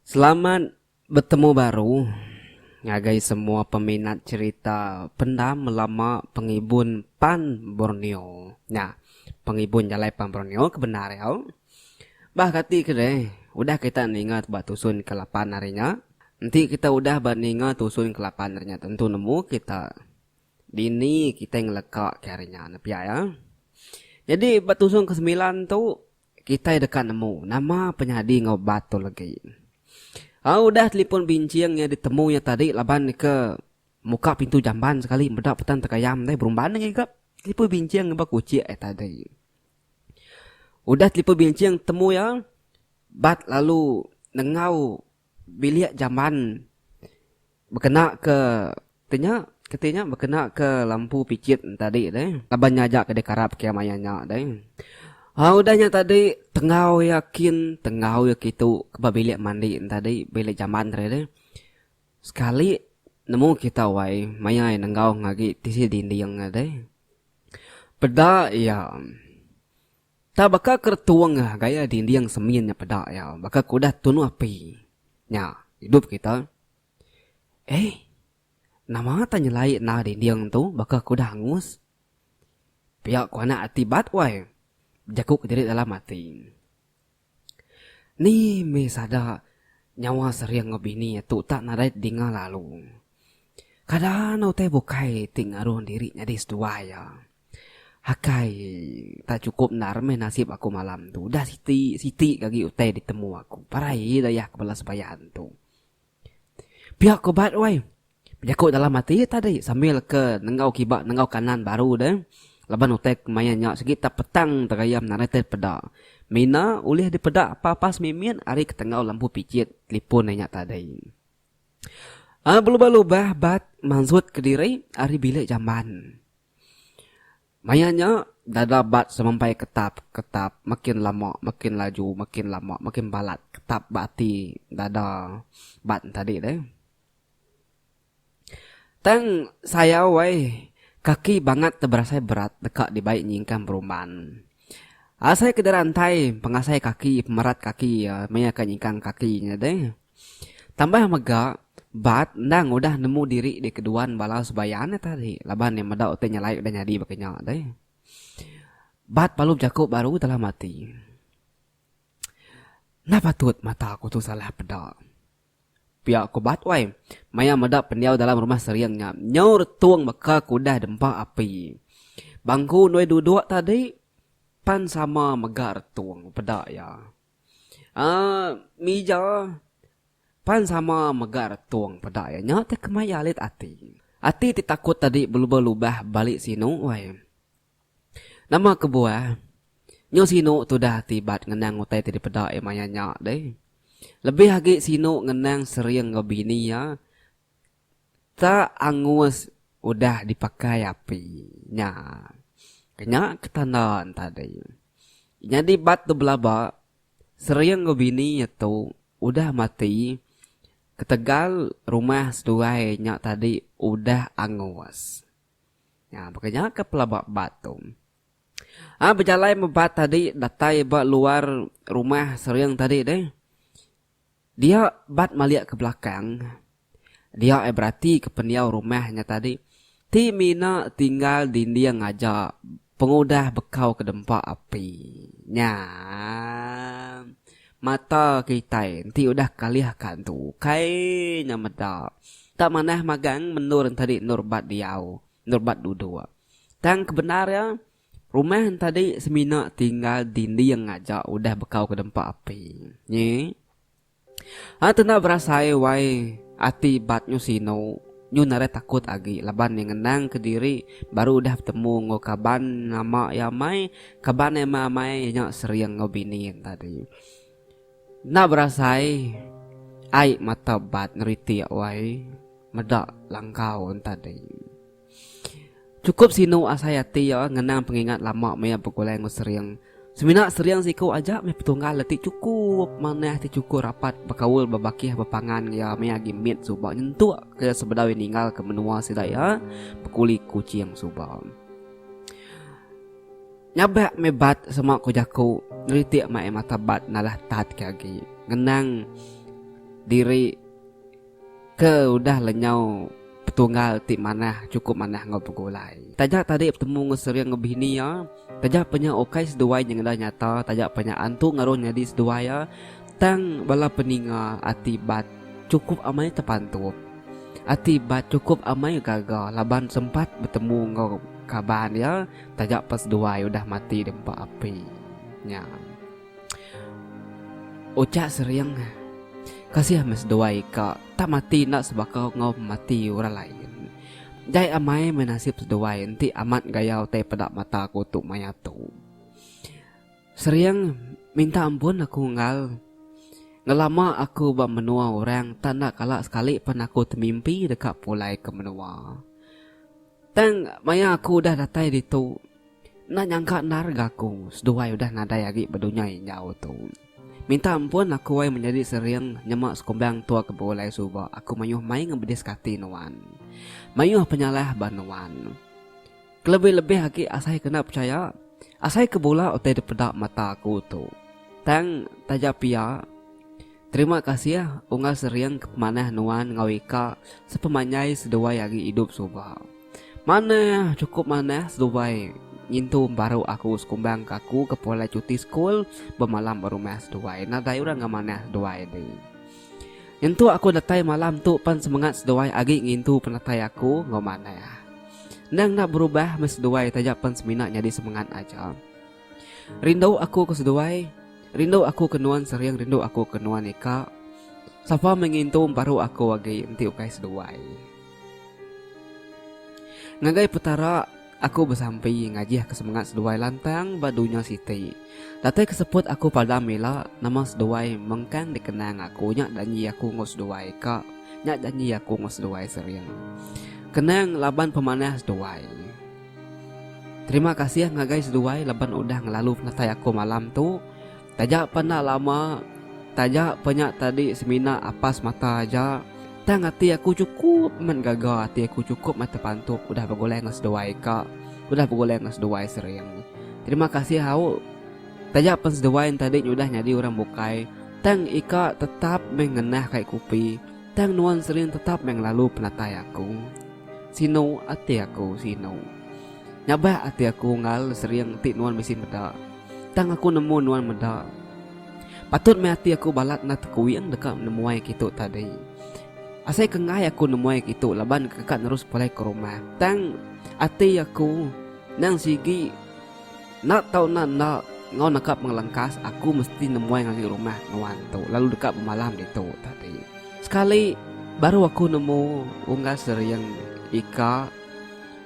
Selamat betemu baru ngagai semua peminat cherita Pendam Lama Pengibun Pan Borneo. Nya, Pengibun Jalai Pan Borneo ke bendar iya. Bah kati ke deh, udah kita ninga ba tusun ke lapan hari nya. Enti kita udah ba ninga tusun ke lapan hari nya tentu nemu kita dini kitai ngeleka ke hari nya ne pia iya. Nyadi ba tusun ke semilan tu kitai deka nemu nama penyadi enggau ubat tu legi. Au udah telipon binching iya ditemu iya tadi laban ke muka pintu jamban sekali meda petan tegayam deh berumban ngiga telipon binching ba kuchik iya tadi. Udah telipu binching temu iya bat lalu nengau bilik jamban bekena ke ti nya ke ti nya bekena ke lampu pichit tadi deh laban nya aja ke dikarap ke maya nya deh. Au udah nya tadi tengau iya kin tengau iya kitu ba bilik mandi tadi bilik jamban tadi deh sekali nemu kita wai maya iya nenggau ngagai tisi dinding deh. Peda iya. Tang baka keretung gaya dinding semin nya peda iya baka ke udah tunu api nya idup kita. Eih. Nama tah nyelai nah dinding tu baka ke udah angus. Pia ku anak ati bat wai. Bejaku kediri dalam ati. Ni meh sada nyawa sering enggau bini atu tak nadai tedinga lalu. Kada enda utai bukai ti ngaruh diri nyadi seduai iya. Akai tak chukup endar meh nasib aku malam tu. Udah siti siti ke agi utai ditemu aku. Parai dayah ke bala sebayan tu. Pia ko bat wai. Bejaku dalam ati iya tadi sambil ke nenggau kiba nenggau kanan baru deh laban utai kemaya nya sigi tak petang tegayam narai tet peda. Mina ulih dipeda apa-apa semimit ari ketenggau lampu pijit telipon iya nya tadi. Belubah-lubah bat mansut kediri ari bilik jamban. Maya nya, dada Bat semampai ketap, ketap, makin lama, makin laju, makin lama, makin balat ketap ba ati dada Bat entadi deh. Tang sayau ai, kaki Bangat tu berasai berat deka dibai nyingkang berumban. Asai ke dira entai pengasai kaki, pemerat kaki iya maya ke nyingkang kaki nya deh. Tambah mega, Bart endang udah nemu diri di keduan bala Subayan iya tadi laban iya meda utai nyelai udah nyadi baka nya deh. Bart perlu bejaku baru dalam ati, Enda patut mata aku tu salah peda. Pia ku Bart wai, maya meda pendiau dalam rumah sering nya, nyaur tung baka ke udah dempa api. Bangku nuai duduk tadi pan sama mega retung peda iya. Aaa mija pan sama mega retung peda iya nya ti kemaya alit ati. Ati ti takut tadi belubah-lubah balik sinu wai. Nama kebuah nyu sinu tudah ti bat ngenang utai ti dipeda iya maya nya deh. Lebih agi sinu ngenang sering enggau bini iya. Sereta angus udah dipakai api nya kenya ke tanda entadi. Nyadi bat tu belaba, sering enggau bini iya tu udah mati ketegal rumah seduai nya tadi udah angus. Nya baka nya ke pelaba bat tu. Ai bejalai meh bat tadi datai ba luar rumah sering tadi deh. Dia bat malik ke belakang. Dia ai berati ke pendiau rumah nya tadi ti mina tinggal dinding aja pengudah bekau ke dempa api nya. Mata kitai enti udah kalih ka tu ukai nya meda. Enda manah magang menur enti tadi endur bat diau, endur bat duduk. Tang kebendar iya, Rumah entadi semina tinggal dinding aja udah bekau ke dempa api. Nyi. Anak tu enda berasai wai ati bat nyu sinu, nyu narai takut agi laban iya ngenang ke diri baru udah betemu enggau kaban lama iya amai, kaban iya meh amai iya nya sering enggau bini entadi. Enda berasai ai mata bat neritik wai meda langkau entadi. Chukup sinu asai ati iya ngenang pengingat lama maya begulai enggau Sering. Semina Sering siku aja meh petunggal ati chukup manah ti chukup rapat bekaul bebakih bepangan enggau iya maya agi mit suba nyentuk ke iya sebedau iya ninggal ke menua sida iya bekuli Kuching suba. Nyabak meh bat sema ku jaku neritik mai mata bat nalah tat ke agi ngenang diri. Ke udah lenyau Petunggal ti manah chukup manah enggau begulai. Taja tadi betemu enggau Sering enggau bini iya, taja pa nya ukai seduai nyengeda nyata, taja pa nya antu ngeruh nyadi seduai iya, tang bala peninga ati Bat chukup amai tepantup. Ati Bat chukup amai gaga laban sempat betemu enggau kaban iya taja pa seduai udah mati dempa api nya. Ucha sering kasih meh seduai ka tak mati enda sebaka enggau pemati orang lain. Jai amai meh nasib seduai enti amat gaya utai peda mata aku tu maya tu. Sering minta ampun aku enggau ngelama aku ba menua orang tak enda kala sekali pen aku temimpi deka pulai ke menua. Tang, maya aku udah datai ditu, enda nyangka endar ga aku seduai udah nadai agi ba dunya enjau tu. Minta ampun aku ai menyadi sering nyema sekumbang tua ke begulai suba aku mayuh mai ngebedis ka ati nuan. Mayuh penyalah ba nuan. Kelebih-lebih agi asai ke enda pechaya, asai ke bula utai dipeda mata aku tu. Tang, taja pia. Terima kasih unggal sering ke pemanah nuan enggau ika sepemanjai seduai ari idup suba. Manah chukup manah seduai ngintu embaru aku sekumbang ke aku ke pulai chuti sekul bemalam ba rumah seduai nadai orang enggau manah seduai di. Nyentuk aku datai malam tu pan semengat seduai agi ngintu penatai aku enggau manah. Endang enda berubah meh seduai taja pan semina nyadi semengat aja. Rindu aku ke seduai Rindu aku ke nuan sering Rindu aku ke nuan ika Sapa meh ngintu Emparu aku agi Enti ukai seduai Ngagai Petara Aku besampi Ngajihka semengat seduai Lantang ba dunya siti Datai ke seput aku padam ila Nama seduai mengkang dikenang aku Nya janji aku enggau seduai ka Nya janji aku enggau seduai sering Kenang laban pemanah seduai. Terima kasih ngagai seduai laban udah ngelalu penatai aku malam tu. Taja pa enda lama, taja pa nya tadi semina apas semata aja, tang ati aku chukup amat gaga, ati aku chukup amat tepantuk udah begulai enggau seduai ka, udah begulai enggau seduai sering. Terima kasih au. Taja pen seduai enti adi udah nyadi orang bukai, tang ika tetap meh ngenah kai kopi. Tang nuan sering tetap meh ngelalu penatai aku. Sinu ati aku, sinu. Nyabak ati aku enggau sering ti nuan bisi meda. Tang aku nemu nuan meda. Patut meh ati aku balat enda tekuing deka nemuai kitu tadi. Asai ke enggai aku nemuai kitu laban ke ka nerus pulai ke rumah. Tang ati aku nang sigi. Enda tau enda enda, enggau naka pengelengkas aku mesti nemuai ngagai rumah nuan tu lalu deka bemalam ditu tadi. Sekali baru aku nemu Unggas Sering, Ika,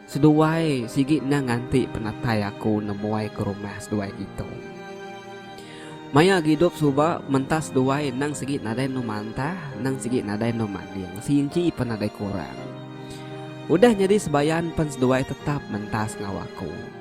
seduai sigi endang nganti penatai aku nemuai ke rumah seduai ditu. Maya agi idup suba mentah seduai endang sigi nadai endur mantah endang sigi nadai endur manding seinci pun nadai kurang. Udah nyadi sebayan pen seduai tetap mentas enggau aku.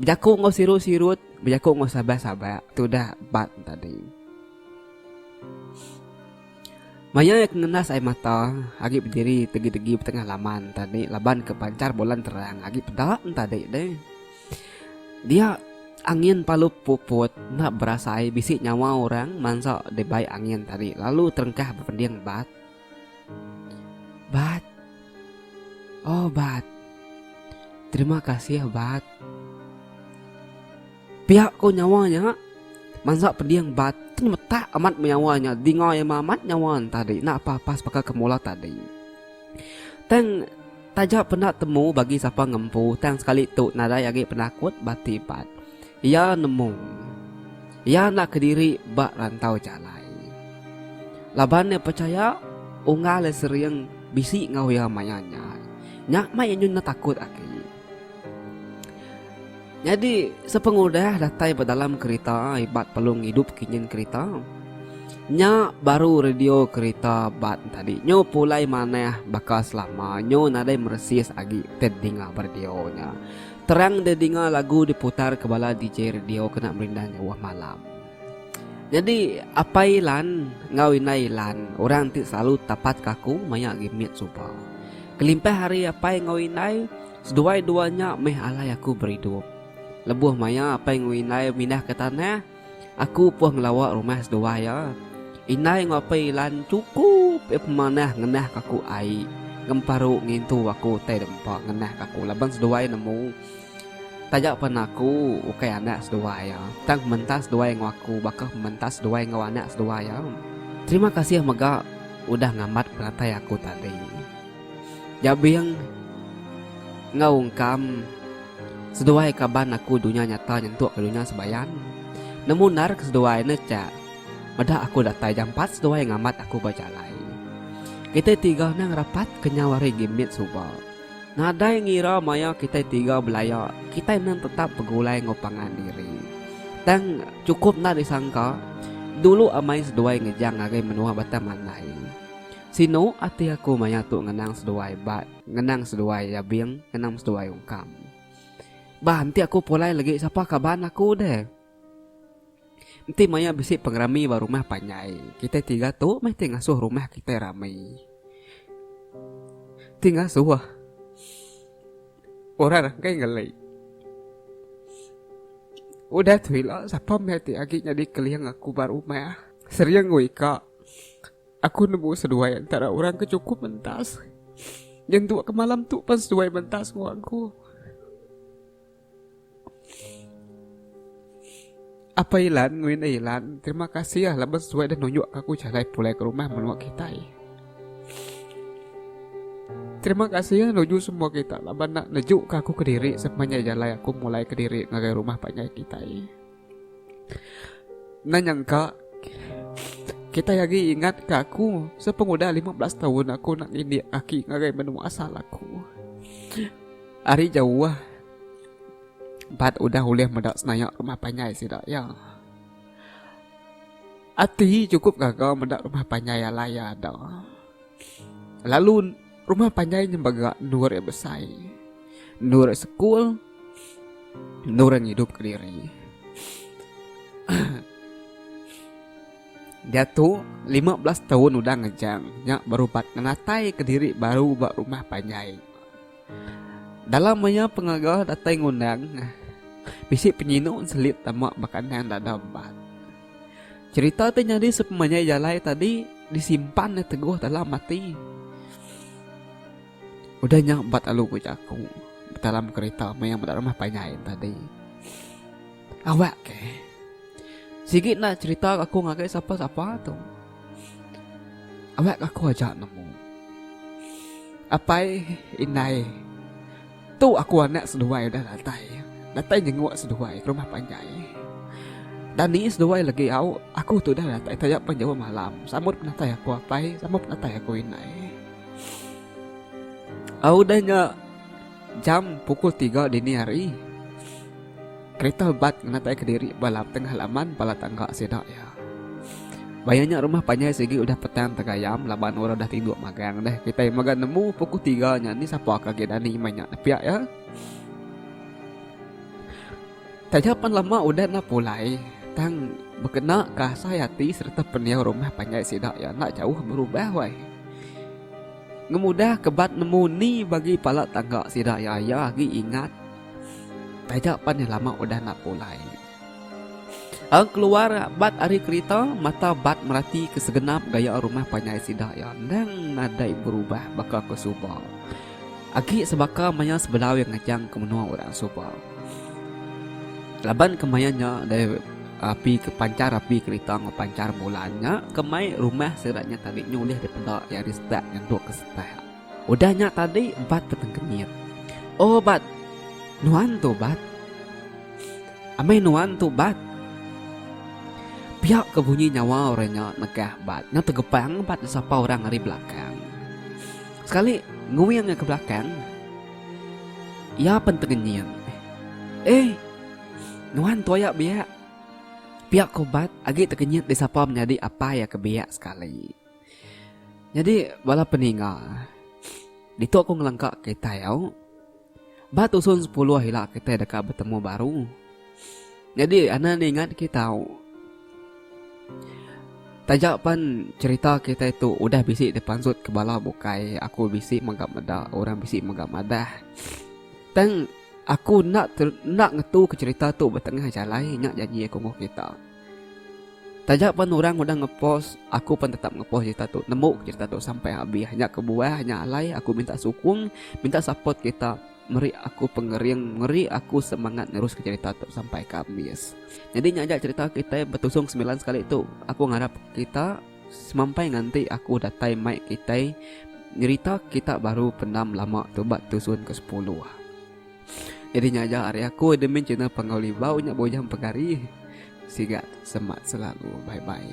Bejaku enggau sirut-sirut, bejaku enggau sabak-sabak, tudah bat tadi. Maya iya kengenas ai mata, agi bediri tegi-tegi betengah laman tadi laban ke pancar bulan terang agi peda tadi deh. Dia angin palu puput enda berasai bisi nyawa orang mansa dibai angin tadi lalu terengkah bepending bat. Bat. Oh Bat. Terima kasih Bat. Pia ko nyawa nya mansa peding Bat tin metak amat menyawa nya dinga iya amat nyawa tadi enda apa pas baka ke mula tadi. Tang taja penda temu bagi sapa ngempu tang sekali tu nadai agi penakut bati Bat. Iya nemu. Iya enda kediri ba rantau jalai. Laban iya pechaya unggal iya sering bisi enggau iya maya nya. Nya mai iya nyun takut agi. Nyadi sepengudah datai ba dalam kerita ibat pelung ngidup kinyin kerita. Nya baru radio kerita ba tadi nyu pulai manah baka selama nyu nadai meresis agi tedinga ba radio nya. Terang dia dinga lagu diputar ke bala DJ radio kena merindang nyauh malam. Nyadi Apai Lan enggau Indai Lan orang ti selalu tapat ke aku maya agi mit suba. Kelimpah ari Apai enggau Indai, seduai dua nya meh alai aku beridup. Lebuh maya Apai enggau Indai mindah ke tanah, Aku upuh ngelawa rumah seduai iya. Indai enggau apai Ilan chukup iya pemanah ngenah ka aku ai ngemparu ngintu aku utai dek empa ngenah ka aku laban seduai nemu taja pan aku ukai anak seduai iya tang pementa seduai enggau aku baka pementa seduai enggau anak seduai iya. Terima kasih mega udah ngambat peratai aku tadi. Jabing enggau ungkam seduai kaban aku dunya nyata nyentuk ke dunya sebayan. Nemu endar ke seduai ne cha meda aku datai jampat seduai ngambat aku ba jalai. Kitai tiga nang rapat kenyau ari gimit suba. Nadai ngira maya kitai tiga belaya, kitai nang tetap begulai enggau pangan diri. Tang chukup enda disangka, dulu amai seduai ngejang ngagai menua Batang Mandai. Sinu ati aku maya tu ngenang seduai ba ngenang seduai Yabing ngenang seduai Ungkam. Ba enti aku pulai legi sapa kaban aku deh. Enti maya bisi pengerami ba rumah panjai kitai tiga tu meh ti ngasuh rumah kitai rami. Ti ngasuh orang rakai ngeli. Udah tu ila sapa meh ti agi nyadi keling aku ba rumah. Sering ku ika. Aku nemu seduai entara orang ke chukup mentas. Nyentuk ke malam tu pan seduai mentas enggau aku. Apa Ilan ngui enda Ilan, terima kasih ah laban seduai dah nunjuk ke aku jalai pulai ke rumah menua kitai. Terima kasih ah nuju semua kita laban nak nejuk ke aku kediri sepanjai jalai aku mulai kediri ngagai rumah panjai kitai. Endang nyangka Kitai agi ingat ke aku Sepengudah lima belas taun aku nak ngindik aki ngagai menua asal aku Ari jauh Bat udah ulih meda senayak rumah panjai sida iya Ati cukup gaga meda rumah panjai alai iya ada Lalu Rumah panjai nya mega endur iya besai, endur iya sekul, endur iya ngidup ke diri. Diatu, lima belas taun udah ngejang nya berubat ngenatai ke diri baru ba rumah panjai. Dalam iya pengaga datai ngundang, bisi penyinu selit tama ba kandang dada empat. Cherita ti nyadi sepemanjai jalai tadi disimpan nya teguh dalam ati. Udah nya ba telu ku jaku dalam cherita meh iya meda rumah panjai tadi. Awak ke sigi enda cherita aku ngagai sapa-sapa tu. Awak aku aja nemu. Apai indai. Tu aku anak seduai udah datai. Datai nyenguk seduai ke rumah panjai. Dani seduai legi au, aku tu udah datai taja pan jauh malam sambut penatai aku apai sambut penatai aku indai. Au udah nya jam pukul tiga dini hari. Kereta bat ngenataika diri ba lap tengah laman bala tangga sida iya. Baya nya rumah panjai sigi udah petang tegayam laban orang udah tinduk magang deh. Kitai mega nemu puku tiga nya ni sapa ke agi dani meh nya nepiak iya. Taja pan lama udah enda pulai tang bekena ka asai ati sereta pendiau rumah panjai sida iya enda jauh berubah wai. Ngemudah ke bat nemu ni bagi bala tangga sida iya, iya agi ingat. Taja pan iya lama udah enda pulai. Tang keluar bat ari kerita, mata bat merati ke segenap gaya rumah panjai sida iya endang nadai berubah baka ke suba. Agi sebaka maya sebelau iya ngajang ke menua orang suba. Laban kemaya nya dai api ke panchar api kerita enggau panchar bulan nya ke mai rumah sida nya tadi nya ulih dipeda iya ari setak nyentuk ke setak. Udah nya tadi Bat betengkemit. O Bat, nuan tu Bat. Amai nuan tu Bat. Pia ke bunyi nyawa orang nya negah Bat. Nya tegepang Bat disapa orang ari belakang. Sekali nguing iya ke belakang, iya pen tengenying. Ei, nuan tu aya biak. Pia ko Bat agi tengenyit disapa menyadi apai iya ke biak sekali. Nyadi bala peninga, ditu aku ngelengka kitai au ba tusun sepuluh ila kitai deka betemu baru. Nyadi anda ningat kita au taja pan cherita kitai tu udah bisi dipansut ke bala bukai aku bisi mega meda orang bisi mega madah. Tang aku enda enda ngetu ke cherita tu ba tengah jalai nya janji aku mung kita. Taja pen urang udah nge post aku pen tetap nge post cerita tu nemu ke cerita tu sampai habis nya kebuah nya alai aku minta sukung minta support kita meri aku pengering meri aku semangat nerus ke cerita tu sampai ke habis nyadi nya aja cerita kitai betusung semilan sekali tu aku ngarap kita semampai nganti aku datai mai kitai nyerita kita baru pendam lama tu ba tusun ke sepuluh. Nyadi nya aja ari aku admin channel Panggau Libau nya bujang pegari. Siga semak selalu. Bye bye.